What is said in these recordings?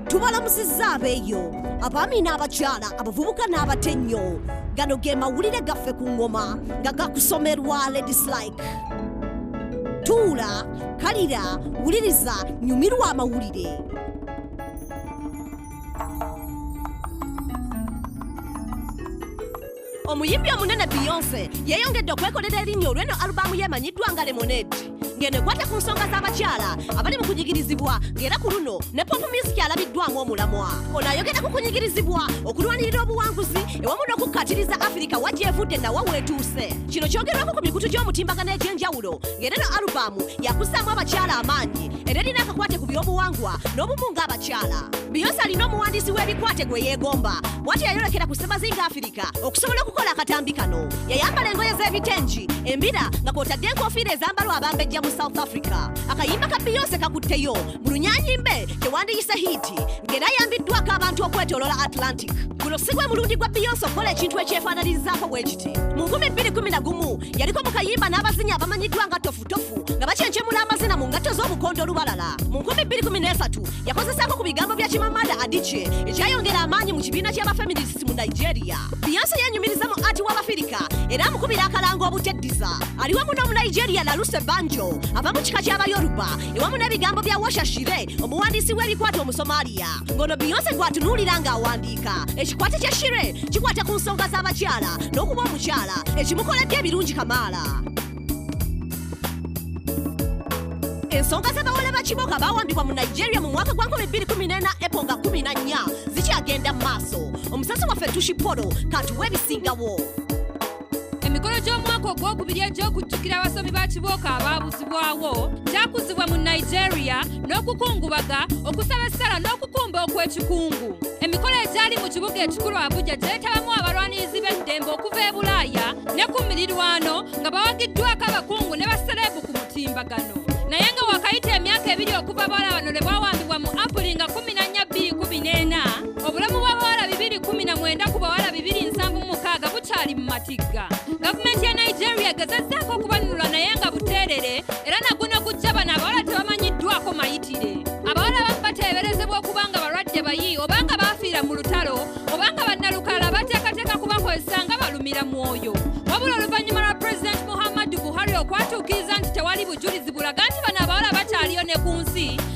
tubalamusizza abeeyo abaami n'abakyala abavubuka n'abate nnyo gano ge mawulire gaffe ku ŋŋoma nga gakusomerwa ladies like tuula kalira wuliriza nyumirwa amawulire omuyimbi omunene beyonce yeeyongedde okwekolera erinnya olw'eno alubaamu yeemanyiddwa nga lemonade ng'eno ekwata ku nsonga z'abakyala abali mu kunyigirizibwa ng'era ku luno ne popu musiki alabiddwamu omulamwa ono ayogera ku kunyigirizibwa okulwanirira obuwanguzi ewamu n'okukkatiriza afirika wa gyevudde nawa weetuuse kino kyogerwako ku mikutu gy'omutimbagano egy'enjawulo ng'era no alubaamu yakussaamu abakyala amaanyi era erina akakwate ku by'obuwangwa n'obumu ng'abakyala biyonsi alina omuwandiisi w'ebikwate gwe yeegomba bwati yayolekera ku ssemazinga afirika okusobola okukola akatambi kano yayambala engoye z'ebitengi embira nga kwotadde enkofiira ezambalwa abambejja mu south africa akayimba ka biyonsi kakutteyo mu lunyanyimbe tewandiyise hiiti ng'era yambiddwako abantu okwetolola atlantic guno si gwe mulundi gwa beyonce okukola ekintu ekyefaananirizaako bwe kiti mu 211 yaliko mu kayimba n'abazinyi abamanyiddwa nga tofutofu nga bakyencemula amazina mu ngatto z'obukondo olubalala mu 223 yakozesaako ku bigambo bya kimamada adice ekyayongera amaanyi mu kibiina ky'abafeminist mu nigeria beyonce yenyumiriza mu ati w'abafirika era amukubira akalango obuteddiza ali wamu n'omunigeria laluse banjo ava mu kika ky'abayoruba wamu n'ebigambo bya washa shire omuwandiisi w'ebikwata omusomaaliya ng'ono beyonce gwatunuulira ng'awandiika ekikwate kya shire kikwata ku nsonga z'abakyala n'okuba omukyala ekimukoledde ebirungi kamaala ensonga z'abawala ba kiboga baawambibwa mu nigeria mu mwaka gwa 2014 epo nga 14 zikyagenda mu maaso omusasi waffe tushipolo katuwa ebisingawo emikolo gy'omwaka ogwokubiri egy'okujjukira abasomi ba kibooko abaabuzibwawo gyakuzibwa mu nigeria n'okukungubaga okusaba essala n'okukumba okw'ekikungu emikolo egyali mu kibuga ekikulu abuja gyetabamu abalwanirizi b'eddembe okuva e bulaaya ne ku mirirwano nga bawagiddwako abakungu ne basereebu ku mutimbagano naye nga wakayita emyaka ebiri okuva bala bano lwe bawambibwa mu apuli nga 1 obulamu bw'abawala bibiri kumi na mwenda ku bawala bibiri nsanvu mukaaga bukyali mu matigga gavumenti ya nigeria egezezzaako okubanunula naye nga buteerere era naguno gujja bano abawala tebamanyiddwako mayitire abawala bamu bateeberezebwa okuba nga balwadde bayi obanga baafiira mu lutalo obanga bannalukala bateekateeka kubakozesa nga balumira mwoyo wabula oluvannyuma lwa pulezidenti muhammadu buhari okwatuukiriza nti tewali bujulizi bulaga nti bano abawala bakyaliyo ne ku nsi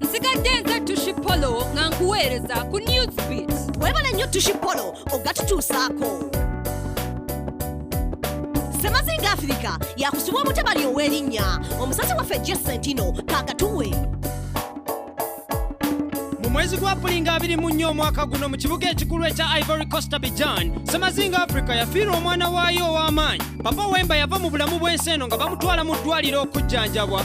nsigadde nze tushi polo nga nkuweereza ku newsbeat webale nnyo tushi polo ogatutuusaako semazinga afirika yakusibwa omutabali ow'erinnya omusasi waffe jesentino kakatuwe mu mwezi gwa pulinga abiri mu nnyo omwaka guno mu kibuga ekikulu ekya ivory costa bijan semazinga africa yafiirwa omwana waayo ow'amaanyi papa wemba yava mu bulamu bw'ensi eno nga bamutwala mu ddwaliro okujjanjabwa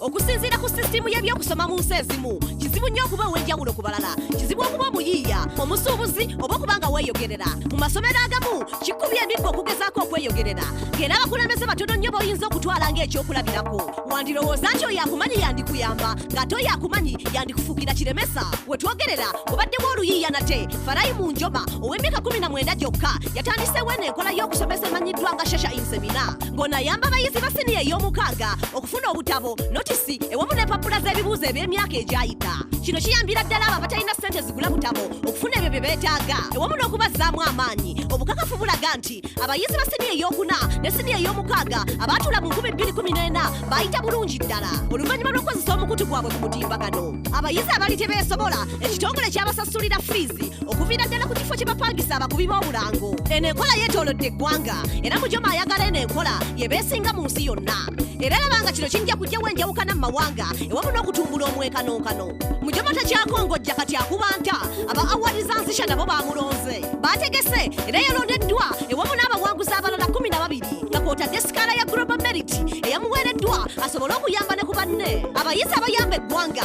okusinziira ku sisitiimu y'ebyokusoma mu nsi ezimu kizibu nnyo okuba ow'enjawulo ku balala kizibu okuba omuyiiya omusuubuzi oba okuba nga weeyogerera mu masomero agamu kikubye emiggo okugezaako okweyogerera ng'era abakulembeze batono nnyo b'oyinza okutwala ng'ekyokulabirako wandirowooza nti oyo akumanyi yandikuyamba ng'ate oyo akumanyi yandikufugira kiremesa we twogerera obaddemu oluyiiya nate farayi mu njoma ow'emyaka 19 gyokka yatandiseewo eno enkola y'okusomesa emanyiddwa nga shasha insemina ng'ono ayamba abayizi ba siniya ey'omukaaga okufuna obutabo notisi ewamu n'empapula z'ebibuuzo eby'emyaka egyayita kino kiyambira ddala abo abatalina ssente zigula butabo okufuna ebyo bye beetaaga ewamu n'okubazzaamu amaanyi obukakafu bulaga nti abayizi ba siniya ey'okuna ne siniya ey'omukaaga abaatuula mu 2014 baayita bulungi ddala oluvannyuma lw'okukozesa omukutu gwabwe ku mutimbagano abayizi abali tebeesobola ekitongole kyabasasulira fiizi okuviira ddala ku kifo kye bapangisa abakubi b'obulango eno enkola yeetoolodde eggwanga era mujoma ayagala eno enkola yebeesinga mu nsi yonna era laba nga kino kijja kujjawo enjawukana mu mawanga ewamu n'okutumbula omwekanonkano mujoma takyakongojja kati akuba nta aba awadi za nsisha nabo bamulonze baategese era yalondeddwa ewamu n'abawanguzi abalala kumi na babiri nga kwotadde sikaala ya global merit eyamuweereddwa asobole okuyamba ne ku banne abayizi abayamba eggwanga